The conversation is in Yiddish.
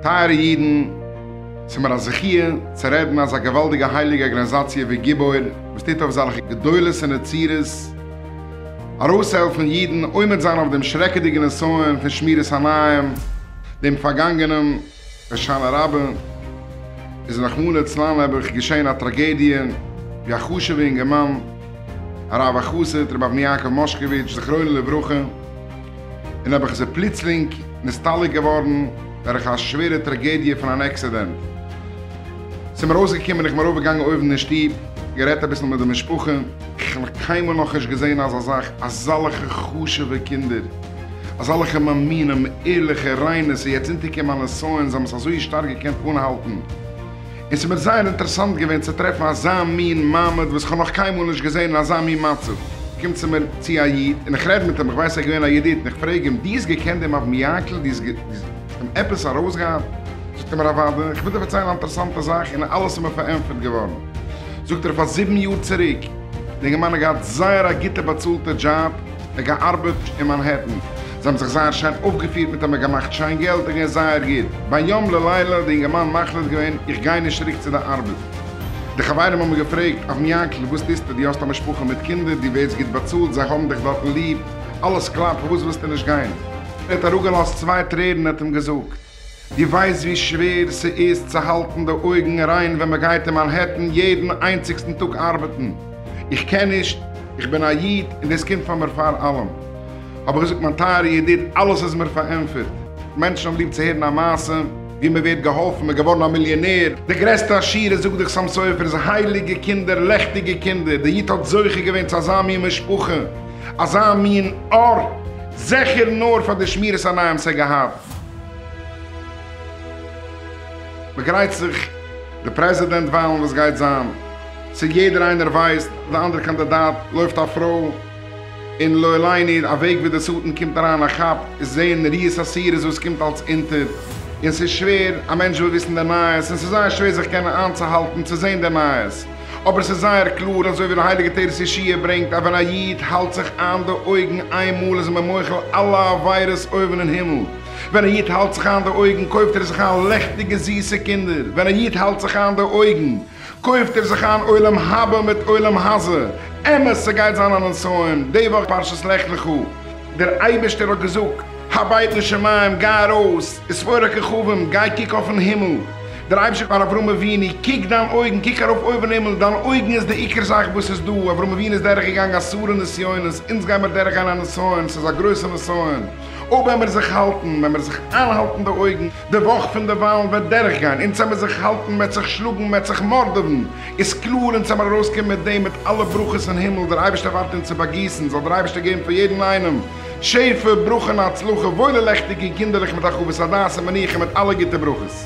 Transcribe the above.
טייערע אידן, ס'מיר א זכי' צו רעדן אזא געוואלדיגע הייליגע ארגאניזאציע ווי גיבור וואס טוט אויף זאלכע גדולות און נצירות ארויסהעלפן אידן עומד זיין אויף דעם שרעקעדיגן נסיון פון שמירת עיניים דעם פארגאנגענעם הושענא רבה איז רחמנא ליצלן נעבעך געשען א טראגעדיע ווי א חשוב'ע אינגערמאן הרב החסיד רבי אבני יעקב מושקאוויטש זכרונו לברכה איז נעבעך איז ער פלוצלינג נסתלק געווארן דורך א שווערע טראגעדיע פון אן עקסידענט ס'איז מיר אויסגעקומען איך בין ארויף געגאנגען אויבן אין שטוב גערעדט אביסל מיט די משפחה. כ'האב נאך קיינמאל נאכנישט געזען אזא זאך אזאלכע חשוב'ע קינדער. אזאלעכע מאמינים, ערליכע, ריינע, ס'איז יעצט אונטערגעקומען א נסיון, זיי האבן עס אזוי שטארק געקענט אנהאלטן, און ס'איז מיר זייער אינטערעסאנט געווען צו טרעפן אזא מין מעמד וואס כ'האב נאך קיינמאל נישט געזען אין אזא מין מצב, קומט צו מיר צו א איד און איך רעד מיט אים, איך ווייס ער איז געווען א ידיד, און איך פרעג אים, דו האסט געקענט דעם אבן יקל? דו האסט אים עפעס ארויסגעהאט? זאגט ער מיר, אוודאי, איך וויל דיר פארציילן א אינטערעסאנטע זאך, און אלעס איז מיר פארענטפערט געווארן, זאגט ער, פאר זיבן יאר צוריק, די גמ' האט געהאט זייער א גוטע באצאלטע דזשאב, איך געארבעט אין מאנהעטן, זיי האבן זיך זייער שיין אויפגעפירט מיט א מיר געמאכט שיין געלט איך גיי זייער גוט, ביום ללילה האט די אינגערמאן מחליט געווען איך גיי נישט צוריק צו די ארבעט, די חברים האבן געפרעגט אויפן יאנקל וואס טוסטו דו האסט א משפחה מיט קינדער דו ווערסט גוט באצאלט זיי האבן דיך דארטן ליב אלעס קלאפט פארוואס ווילסטו נישט גיין? ער האט אראפגעלאזט צוויי טרערן און האט אים געזאגט. דו ווייסט ווי שווער ס'איז צו האלטן די אויגן ריין ווען מ'גייט אין מאנהעטן יעדן איינציגסטן טאג ארבעטן? איך קען נישט, איך בין א איד און דאס קומט פאר מיר פאר אלעם. האב איך געזאגט מיין טייערע ידיד, אלעס איז מיר פארענטפערט. מענטשן האבן ליב צו הערן א מעשה ווי מ'ווערט געהאלפן, מ'איז געווארן א מיליאנער, די גרעסטע עשירות זאגט דאך סאם סופר'ס הייליגע קינדער, לעכטיגע קינדער, דער איד האט זוכה געווען צו אזא מין משפחה, אזא מין אור, זעכער נאר פאר די שמירת עיניים ס'האט געהאט. מ'גרייט זיך די פרעזידענט וויילן וואס גייט זיין צו יעדער איינער ווייסט די אנדערע קאנדידאט לויפט א פרוי און לא עליני א וועג ווי די שטן קומט אריין א כאפ איז זעהן ריאות אסירות וואס קומט אלס אונטער און ס'איז שווער א מענטש וויל וויסן די נייעס און ס'איז זייער שווער זיך קענען איינצוהאלטן צו זעהן די נייעס אבער ס'איז זייער קלאר אזוי ווי די הייליגע תורת ישעי' ברענגט אז ווען א איד האלט זיך איין די אויגן איין מאל איז מען מוחל אלע עבירות אויבן אין הימל, ווען א איד האלט זיך איין די אויגן קויפט ער זיך איין לעכטיגע זיסע קינדער, ווען א איד האלט זיך איין די אויגן קויפט ער זיך איין עולם הבא מיט עולם הזה, אמת ס'גייט זיין א נסיון די וואך פרשת לך לך, דער אייבערשטער האט געזאגט הבית לשמים גיי ארויס, אספור הכוכבים גיי קוק אויפן הימל, דער אייבערשטער פאר אברהם אבינו, קוק דיין אויגן, קוק ארויף אויבן הימל, דיין אויגן איז די עיקר זאך וואס איז דא, אברהם אבינו איז דורך געגאנגען אסארע נסיונות, אונז גייען מיר דורך גיין א נסיון, ס'איז א גרויסע נסיון, אויב ווען מיר זיך האלטן, ווען מיר זיך איינהאלטן די אויגן, די וואך פון די וואלן וועט דורך גיין, אונז וועמיר זיך האלטן, מ'וועט זיך שלאגן, מ'וועט זיך מארדעווען, איז קלאר אונז וועמיר ארויס קומען מיט דעם, מיט אלע ברכות אין הימל, דער אייבערשטער ווארט אונז צו באגיסן, זאל דער אייבערשטער געבן פאר יעדן איינעם, שפע, ברכה און הצלחה, וואוילע לעכטיגע קינדערלעך מיט הרחבת הדעת און מנוחה מיט אלע גוטע ברכות.